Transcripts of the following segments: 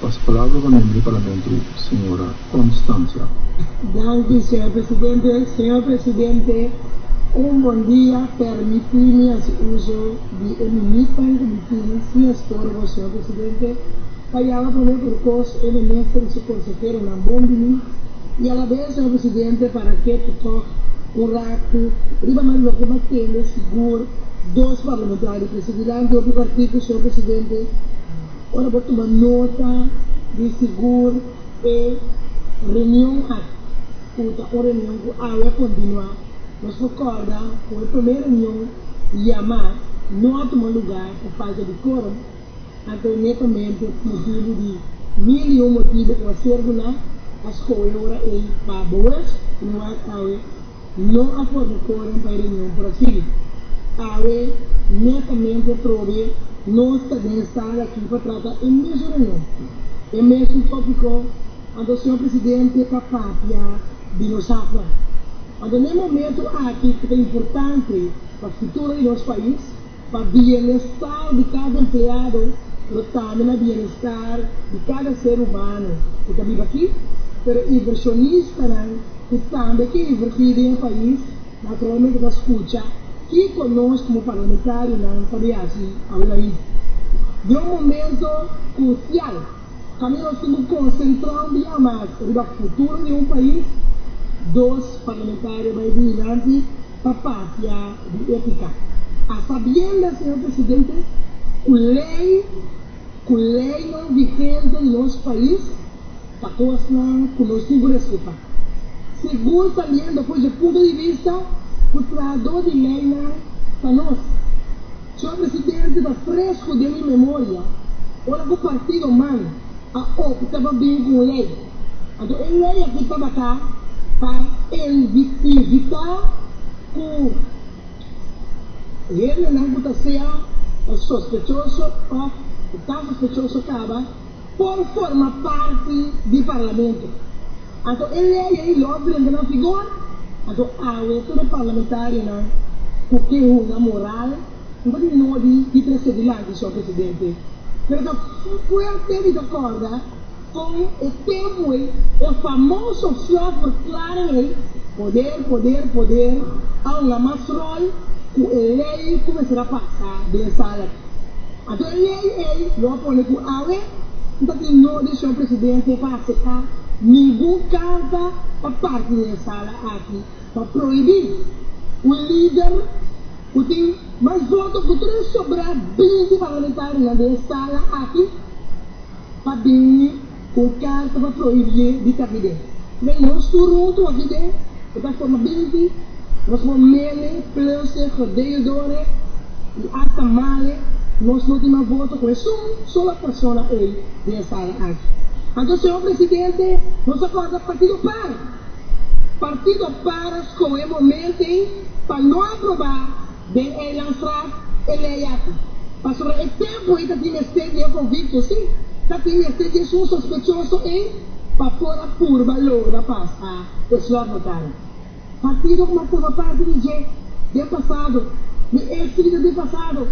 Pas palabra pa miembro di Parlamento señora Constancia. Danki señor presidente, señor presidente un bon dia permiti mi hasi uso di e minutnan cu mi tin sin estorbo señor presidente pa yama prome por cos e minister y su conseheronan bon bini y a la vez señor presidente para ke ta tok un ratu riba mas loke m'a tende sigur dos parlamentario presidi la anto di partido señor presidente. Ora bo tuma nota di sigur e reunion aki ku ta un reunion ku awe a kontinuá, nos por kòrda ku e promé reunion yamá no a tuma lugá pa falta di kórum, anto netamente pa motibu di mil i un motibu ku a ser guná, a skohe ora ei pa boes, ku no wak awe. Lo a for di Coren pa e reunion por a sigui. Awe netamente atrobe nos ta den sala aki pa trata e mesun reunion, e mesun topico, anto Señor Presidente ta papia di nos hapnan. Anto n'e momento aki cu ta importante pa futuro di nos pais, Pa bienestar di cada empleado, pero tambe na bienestar di cada ser humano cu ta biba aki. Pero inversionistanan cu tambe kin inverti den e pais naturalmente ta scucha kico nos como parlamentarionan ta bay haci awe na Haiti. Dion momento crucial. Pa mi nos tin por konsentrá un biaha mas riba futuro di un pais, dos parlamentario bai di hilanti pa papia di etika, a sabienda, señor presidente, ku lei ku leinan vigente di nos pais ta kosnan ku nos tin ku respetá. Sigur también depús di e punto di vista ku traadó di leinan ta nos. Cion presidente ta fresco den mi memoria ora cu partido man a opta pa bini cu un ley. Anto e ley aki tabata pa evita cu hendenan cu ta sea sospechoso of cu ta sospechoso caba Por forma parti di Parlamento. Anto e ley ei lo a prende na figor, anto awe tur e parlamentarionan cu ke hunga moral no ta di nodi di trece dilanti, Sor Presidente. Pero ta fuerte di ta corda con e tempo ei, e famoso fluff verklaring ei, poder, poder, poder, a hunga mas rol cu e ley ei cumensara pasa den sala. A den ley ey lo a pone cu awe no ta tin no decision presidente pa acepta ningun carta pa parti den e sala aki pa prohibi un lider cu tin mas voto cu tres sobra binti parlamentarionan den e sala aki pa bin Un karta pa prohibié di ta hid'é. May nos tur runtu a hid'é. E ta forma binti. Nos por mele, pluse, hode'e dore i asta male. Nos no tin mas voto ku esun sola persona ey den e sala aki. Anto, Señor Presidente, nos a kòrda Partido Par. Partido Par a skohe e moment ey pa no aprobá. Den Eilandstraat, e lei aki, pasobra e tempu ei ta tin mester di e convicto, si, ta tin mester di esun sospechoso ei pa por a purba logra pas a e slotnotario. Partido cu mi a forma parti di dje den pasado, mi exliders di pasado,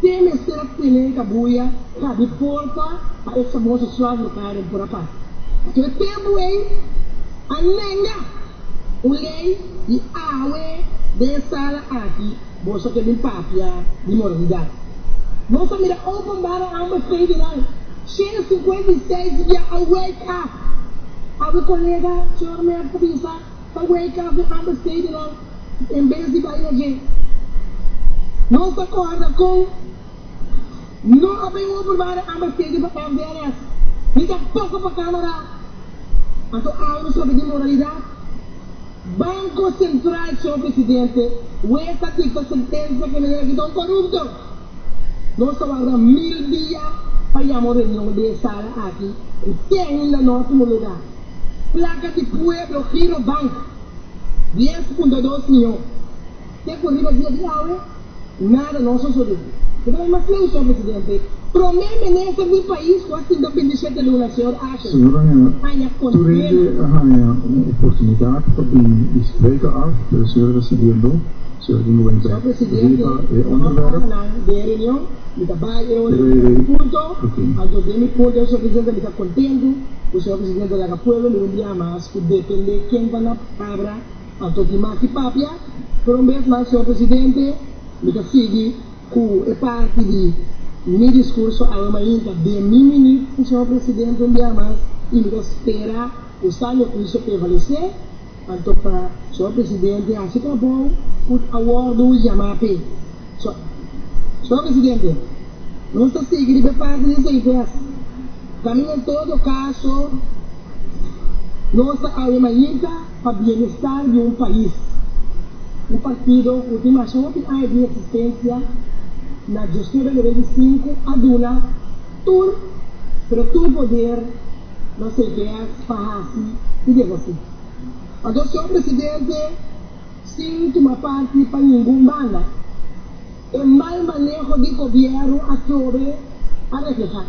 te mester a tene e cabuya cabi porta pa e famoso slotnotario por a pas. Pasobra e tempu ei a nenga. Un ley di awe den e sala aki boso ke bin papia di moralidad. Nos a mira openbara hamber federal shenda cincuenta y seis di bia a wake up. Awe colega señor Merk ta bisa ta wake up den hamber federal en bes di bay na dje. Nos ta corda con. No a bay ober mare ama segi pa banderas ni ta pasa pa camera anto auro sobre di moralidad banco central señor presidente wes a dicta sentencia que nan yaki ta un corupto nos ta warda mil dia pa yama un reunion den sala aki cu tehinda no a tuma lugar placa di pueblo giro bank dies punto dos mion. Kiko riba dia di awe? Nada no so so riba. Mi ta bay mas kleu, Señor Presidente, Prome Minister di pais ku a sinta bindishete luna, Señor Ashe, haña kondena. Señor Presidente a haña un oportunidat pa bini i spreka af, pero Señor a ta sigiendo Señor a ginga wenta riba e onderwerp. Mi ta bay e ora di mi punto. Anto den mi punto, Señor Presidente, mi ta kontentu ku Señor Presidente a laga pueblo mi un dia mas ku depende ken ta na palabra. Anto di maki papia por un bes mas señor presidente, mi ta sigui cu e parti di mi discurso awe mainta. Den mi minut cu señor presidente un bia mas y mi ta spera cu sabio juicio prevalece, anto pa señor presidente haci trabou cu a wordo yama p'e. So, señor presidente, nos ta sigui riba e parti di esey pues. Caminda en todo caso, nos ta awe mainta. pa bienestar di un pais, un partido cu tin mas hopi aña di existencia na Josue Bernabeu di Sinku a duna tur, pero tur poder na su best pa haci y deshaci. Anto, Señor Presidente, sin tuma parti pa ningun banda. E mal maneho di gobièrnu atrobe a reflehá.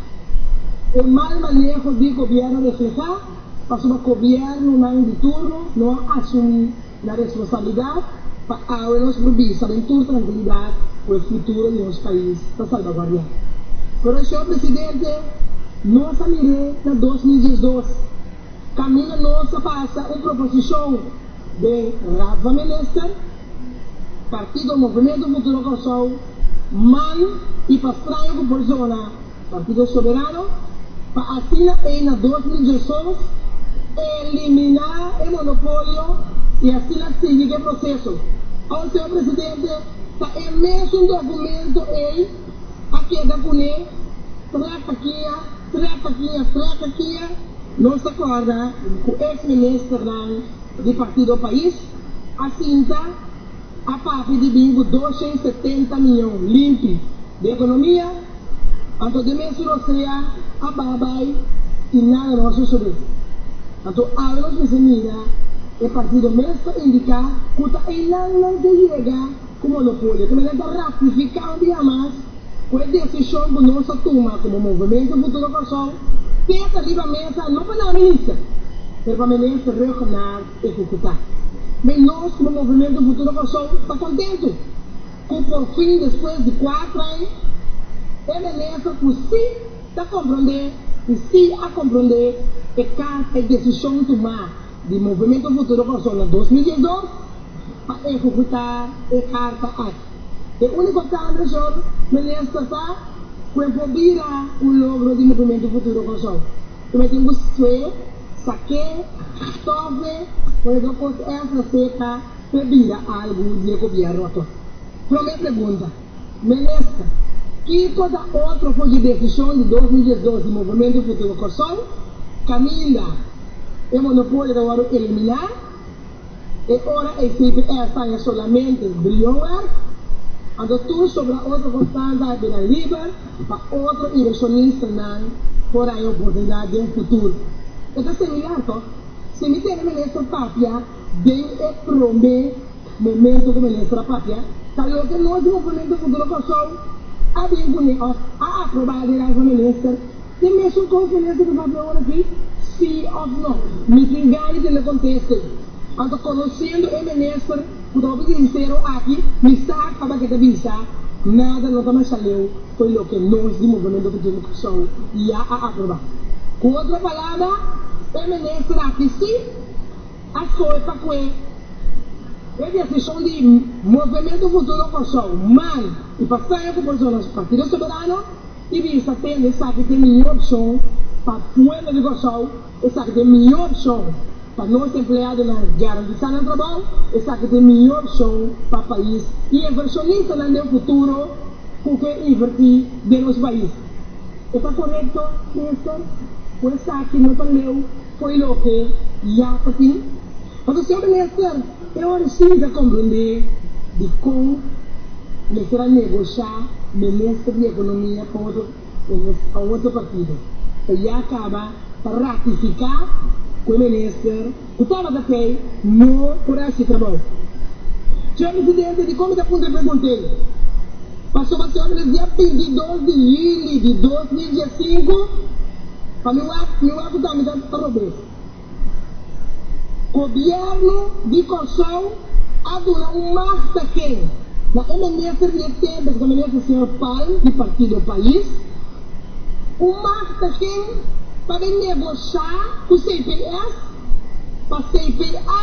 E mal maneho di gobièrnu a reflehá pasobra gobièrnunan di turno no a asumí nan responsabilidat pa awe nos por bisa den tur trankilidat ku e futuro di nos pais ta salbaguardiá. Pero, señor presidente, nos a mir'é na dos mil diesdos, kaminda nos a pasa un proposishon den Raad van Minister, Partido Movimento Futuro Kòrsou, man, i Pastrayo ku por zona Partido Soberano pa asina ei na dos mil dioseis eliminá e monopolio i asina sigui ku e proseso. Aos, señor presidente, ta e mesun dokumento ei a keda kuné traka kia, traka kia, traka kia. Nos ta kòrda ku ex ministernan di Partido Pais Asinta, a papia di bin ku dos shen setenta mion limpi di ekonomia, anto den mes di Rosea a baha bai i nada no a sosodé. Anto awe nos mester mira e partido mes ta indiká ku ta einan nan ke yega ku monopolio. Tambe nan ta ratifiká un bia mas ku e desishon ku nos a tuma komo Movimento Futuro Kòrsou te ta riba mesa, no pa nan minister, pero pa minister Rhuggenaath. E ku ku ta bay los kuma Movimiento Futuro Kòrsou ta kontentu ku por fin despues di kuater ai e minister ku si ta komprondé i si a komprondé e karta i desishon tumá di Movimiento Futuro Kòrsou na dos mil dies dos pa ehekutá e karta ai. E úniko kambio señor minister ta ku e por bira un logro di Movimiento Futuro Kòrsou. Cu lo tin Busué, Saqué, Tove, por e dos cos esna sepa pe bida algu di e gobierno ato. Prome pregunta, Minister, ki cosa otro for di decision di dos mil diesdos di Movemento Futuro Corsou caminda e monopolio ta worde elimina? E ora e CBS ta haña solamente briyon wèk, anto tur sobra otro kosnan ta bira liber pa otro invershonistanan por haña oportunidat den futur. E ta similar to si mi tene minister papia den e promé momento ku minister a papia, ta loke nos Movimiento Futuro Kòrsou a bin kuné òf a aprobá e reis na minister, Tin mesun cos nan esaki bo a habla ora aki? Sí of no? Misin gana tin na conteste. Anto conociendo e minister cu ta hopi sincero aki, mi sa caba ke ta bisa, nada no ta masha leu fo'i loke nos di Movemento Cristiano Kòrsou ya a aproba. Cu otro palabra, e minister aki sí a scohe pa cue e decision di Movemento Futuro Kòrsou, man, y pa saña cu por zona nos Partido Soberano, I di sa tende esaki te miño opshon pa pueblo di Kòrsou, esaki te miño opshon pa nos empleadonan garantisá nan trabou, esaki te miño opshon pa pais i invershonistanan den futuro ku ke invertí den nos pais. E ta korekto, Minister, ku esaki no ta leu fo'i loke ya ta tin? Pasobra, Seu Minister, E ora si mi ta comprende dicon mester a negosha Minister di Economia pa otro Minister pa otro partido ta ya caba pa ratifica cu e Minister cu tabata tey no por a haci trabou. Señor Presidente, dicon mi ta puntra e preguntey pasobra señor Minister dia binti i dos di yuli di dos mil dies sinku pa mi wak mi wak cu ta mi ta robó. Gobièrnu di Kòrsou a duna un magt na ken? Na e minister di e tempu, ku ta minister señor Palm di Partido Pais. Un magt na ken pa bin negoshá ku CPS pa CPA.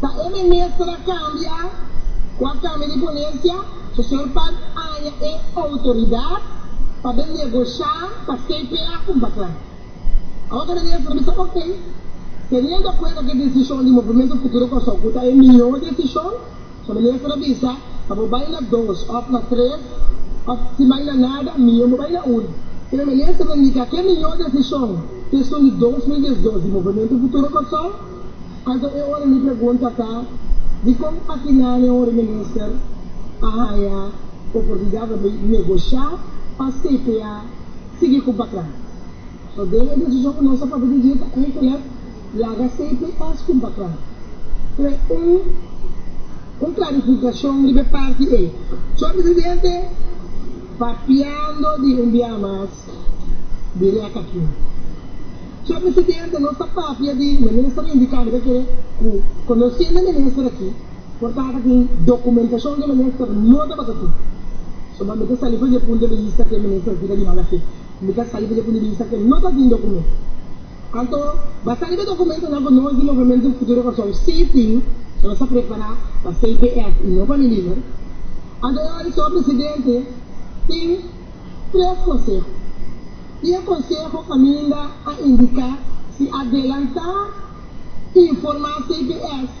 Pa e minister a cambia cu a cambia di ponencia, su señor Pat aña e autoridad pa bin negocia pa CPA un baclan. Awor ta minister bisa ok, teniendo cuenta cu e decision di Movimiento Futuro Kòrsou cu ta e mihor decision, So mi mester a bisa, pa bo bai na dos òf na tres, òf si bai na nada, mihó bo bai na un. E lo mester ta indiká ke mihó desishon, keshon di dos mil diesdos di Movementu Futuro Kòrsou. Anto e ora mi pregunta ta, Dikon atinane un reminister a haña oportunidat pa bai negoshá pa CPA sigui kun patrón? So den e desishon ku nos a papia di dje ta Enkelhet, Laga cps con background trae un un clarificacion riba e parti ey. Señor Presidente, papiando di un bia mas di rek aki. Señor Presidente, nos ta papia di, e Minister a indica mi ta kere cu conociendo e Minister aki, por tata tin documentacion cu e Minister no tabata tin. So pa mi ta sali fa dje punto de bista cu e Minister aki ta di mala fe. Mi ta sali fa dje punto de bista cu no ta tin documento. Anto, basá riba dokumentonan ku nos di Movimiento Futuro Kòrsou sí tin, so nos a prepará pa CPF i no pa Miliber. Anto e ora so, presidente, tin tres konseho. I e konseho kaminda a indiká si adelantá informá CPF.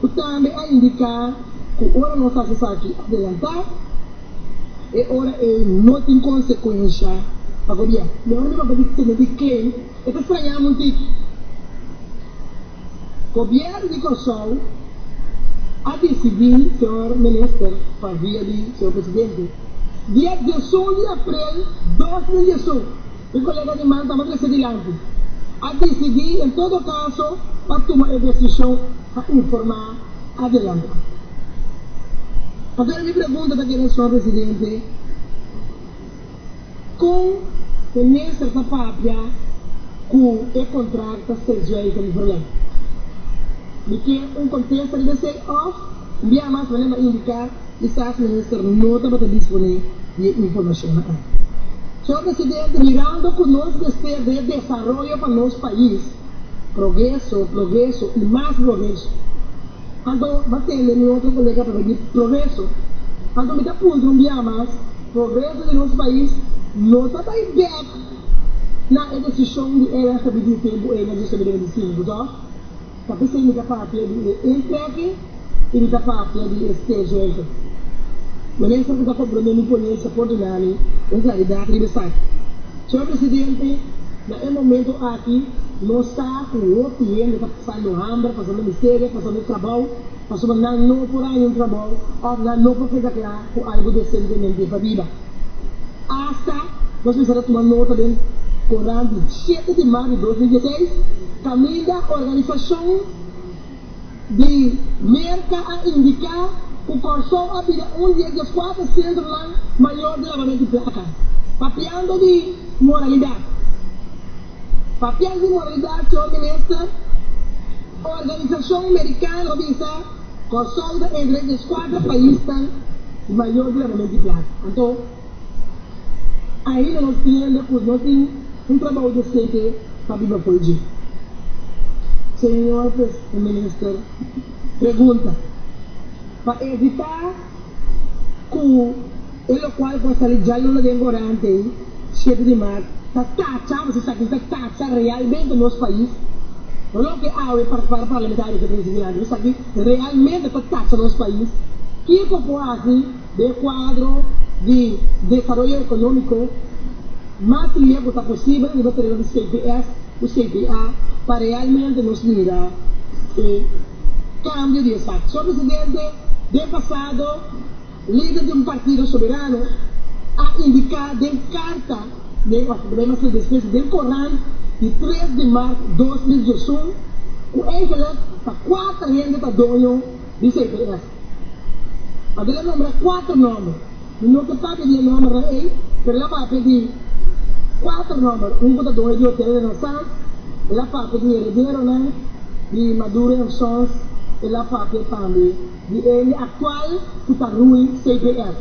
Cu tambe a indica cu ora nos haci esaki adelanta, e ora ey no tin consecuencia pa gobierno. Mi ora mi papá di tene di claim, e ta strañamu un tiki. Gobierno di Corsou a dicidi, señor Minister, pa via di señor Presidente, dia diesun di April dos mil diesun, E kolega di man tabata trese dilanti a disidí en todo kaso pa tuma e desishon a informá adelantá. Agora mi pregunta ta keda sòr presidente, kon e mester ta papia ku e kontrakt ta seswei ta mi problema? Mi kier un kontesta riba esei òf. Un biaha mas manera ta indiká kisas Minister no tabata disponé di e informashonnan aki. Señor Presidente, mirando ku nos mester di e desaroyo pa nos pais, progreso, progreso i mas progreso, anto bo tende mi otro kolega papia di progreso. Anto mi ta puntra un biaha mas, progreso di nos pais no ta bai bèk na e desishon di Ernst Abidie tempu ei na Diosdabidemidisinubu tò? Pa bisai mi ta papia di e entreke y mi ta papia di e sterzonke. Mi mester ku ta compro mi imponencia por duna mi un claridad riba esaki. Señor Presidente, na e momento aki nos sa ku hopi hende ta pasando hamber, pasando miseria, pasando trabou. Pasobra nan no por haña un trabou òf nan no por keda kla ku algu desentemente pabiba. Asta nos bisa ta tuma nota den koran di shete di mar di dos mil dieseis kaminda organisashon di Merka a indiká ku Kòrsou a bida un di e dieskuater sentronan mayor di lavamentu di plaka, papiando di moralidat. Papias di moralidad, Señor Minister, organisacion mericano a bisa Corsou ta entre e dies cuater paisnan di mayor derramamento di plata. Anto, ainda nos tiende cu no tin un trabou decente pa biba fo'i dje. Señor Minister, pregunta, pa evita. ku e lokual por sali djal no na den gorante ei, siete di maart, ta tacha, mi si sa akí, ta tacha realmente nos pais, no loke awe para parlamentario ke trese dilanti, mi sa ki realmente ta tacha nos pais, kiko por hasi den kuadro di desaroyo ekonómiko mas lia ku ta posibel riba tereno di CPS ku CPA pa realmente nos mira e. Kambio di esaki. Sor Presidente, den pasado, lider di un partido soberano a indiká den karta den òf den mas lides mes den korant di tres di mart dos mil diesun ku eigelik ta kuater hende ta doño di CPF. A bin a nombra kuater nòmber. Mi no ke papia di e nòmbernan ei, pero el a papia di kuater nòmber. Un ku ta dueño di Hotel Renaissance, el a papia di herederonan di Maduro and Sons, el a papia tambe di e hende aktual ku ta rui CPF.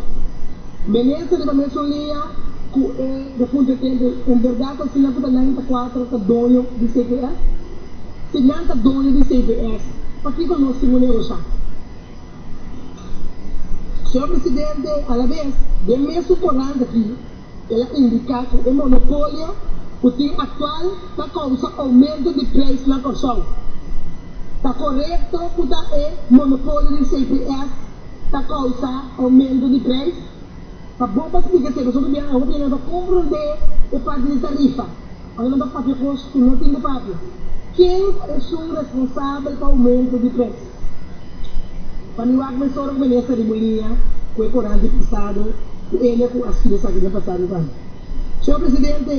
Mester riba mesun lia ku e. Bo punto e tempu, en berdad asina ku ta nainta kuatro ta doño di cps? Si nan ta doño di cps, pakiko nos tin un negosha? Señor Presidente, alabes den mes su korant aki el a indica ku e monopolio ku tin aktual ta kousa oumento di preis na Kòrsou. Ta korekto ku ta e monopolio di cps ta kousa oumento di preis? Pa bo pa splica seco esaki biaha hopi nan ta compra un de e parti di tarifa. Ora nan ta papia cos cu no tin cu papia. Ken ta esun responsabel pa aumento di pres? Pa mi wak men sor cu mene esta riba un liña cu e coral di pasado cu ello cu a scribi esaki den pasado cu anto. Señor Presidente,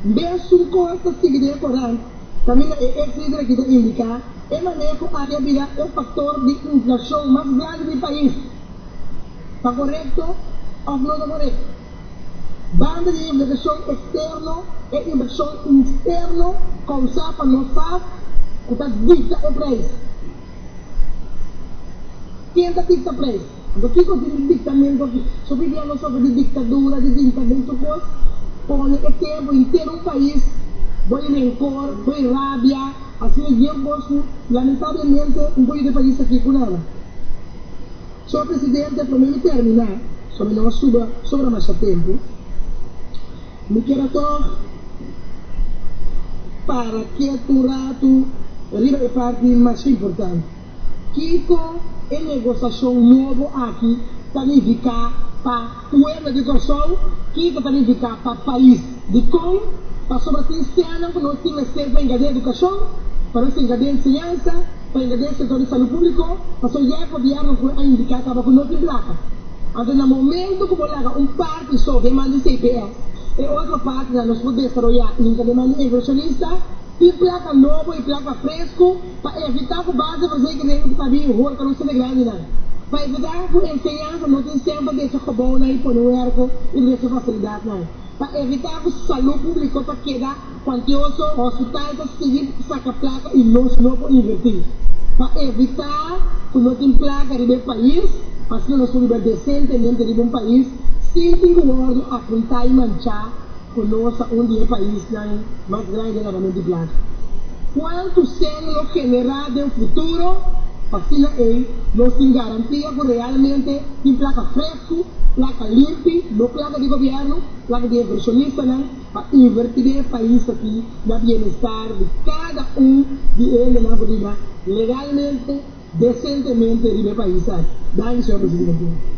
mbe esun cos ta sigui den e corant caminda e ex lider aki ta indica e manera cu aki a bira e factor di inflacion mas grandi di e pais. ta korekto òf no ta korekto. Banda di invesgason eksterno e invesgason interno kousá pa nos sa ku ta dikta e preis. Ken ta dikta preis? Anto kiko tin di diktamentu aki? So p'e bia no sofri di diktadura, di dinta den tur kos? Pone e tempu intero un pais bo e renkor, bo e rabia, asina yu kos ku lamentablemente un poyo di e pais aki ku nada. Sor Presidente, pa mi mi termina, so mi no a suba sobra masha tempu. Mi ker a tog para kiet un ratu riba e parti masha importante. Kiko e negosashon nobo aki ta nifiká pa. Pueblo di Kòrsou, kiko ta nifiká pa pais? Dikon? Pasobra tin sènnan ku no tin mester pa hinka den edukashon, pa nos hinka den enseñansa, pa hinka den sektor di salú públiko, pasobra ya e gobièrnu ku a indiká kaba ku no tin plaka. Anto na momentu ku bo laga un parti so den man di CPS, e otro partinan nos por desaroyá hinka den man di invershonista, tin plaka nobo i plaka fresku, Pa evitá ku base di nos rekenemen ta bin hor pa nos hende grandinan. Pa evitá ku enseñansa no tin semper desha gobounan i pone werko i desha fasilidatnan. Pa evitá ku salú públiko ta keda kuantioso, hospital ta sigui saka plaka i nos no por invertí. Pa evitá ku no tin plaka riba e pais, asina nos por biba desentemente riba un pais sin tin ku wòrdu apuntá i manchá. Cu nos ta un di e paisnan mas grandi den habamen di blaka. Cual tucel lo genera den futuro? Pa asina ei, nos tin garantia cu realmente tin plaka frescu, plaka limpi, no plaka di gobierno, plaka di inversionistanan, pa inverti den e pais aki na bienestar di cada un di hendenan cu riba legalmente, decentemente riba e pais aki. Danki, Señor Presidente.